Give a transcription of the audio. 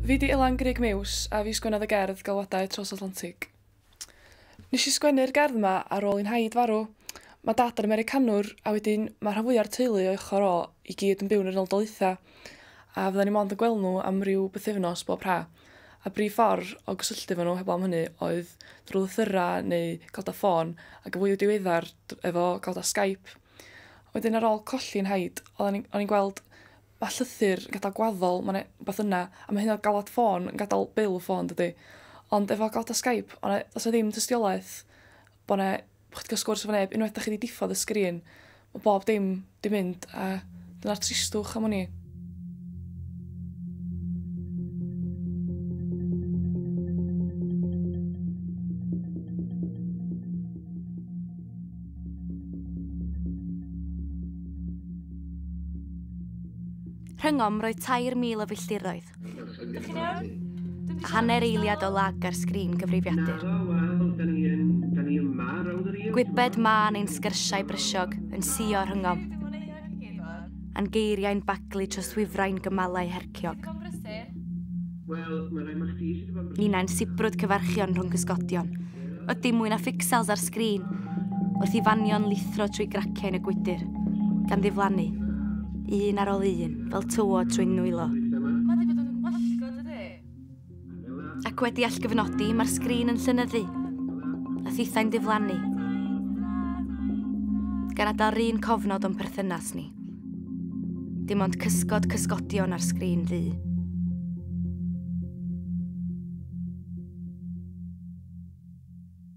Fi 'di Ilan Grug Mews a fi sgwennodd y gerdd Galwadau Tros Atlantig. Nes i sgwennu'r gerdd 'ma ar ôl i 'nhaid farw. Mae dad yn Americanwr a wedyn mae rhan fwya'r teulu o'i ochr o i gyd yn byw yn yr Unol Daleithiau a fyddan ni mond yn gweld nhw am ryw bythefnos bob ha'. A brif ffordd o gysylltu efo nhw heblaw am hynny oedd drwy lythyrau neu galwadau ffôn ac yn fwy diweddar efo galwadau Skype. Wedyn ar ôl colli 'nhaid o'n i'n gweld Ma llythyr yn gadal gwaddol ma na wbath yna a ma hyd yn oed galwad ffôn yn gadal bil y ffôn dydi? Ond efo galwada Skype o na does na ddim tystiolaeth bo na bo chdi ca'l sgwrs efo neb unwaith da chi di diffodd y sgrin ma bob dim di mynd a dyna'r tristwch am wn i. Rhyngom roedd 3,000 o filltiroedd. Dych chi'n iawn? A hanner eiliad o lag ar sgrin cyfrifiadur. Gwybed mân ein sgyrsiau brysiog yn sio rhyngom. A'n geiriau'n baglu troswyfrain gymalau hergyn. Ciog. Wel, mae'n rhaid mae chdi sydd wedi bod yn brysur. Ninnau'n sibrwd cyfarchion rhwng cysgodion. Oedd dim mwy na ffixels ar sgrin, wrth i fanion lithro trwy graciau yn y gwydr, gan ddiflannu, un ar ôl un, fel tywod trwy'n nwylo. Mae wedi bod yn wallgo, dydy? Ac wedi allgyfnodi, mae'r sgrin yn llynyddu, a thithau'n diflannu. Gan adael rhywun cofnod o'n perthynas ni. Dim ond cysgod cysgodion ar sgrin ddu.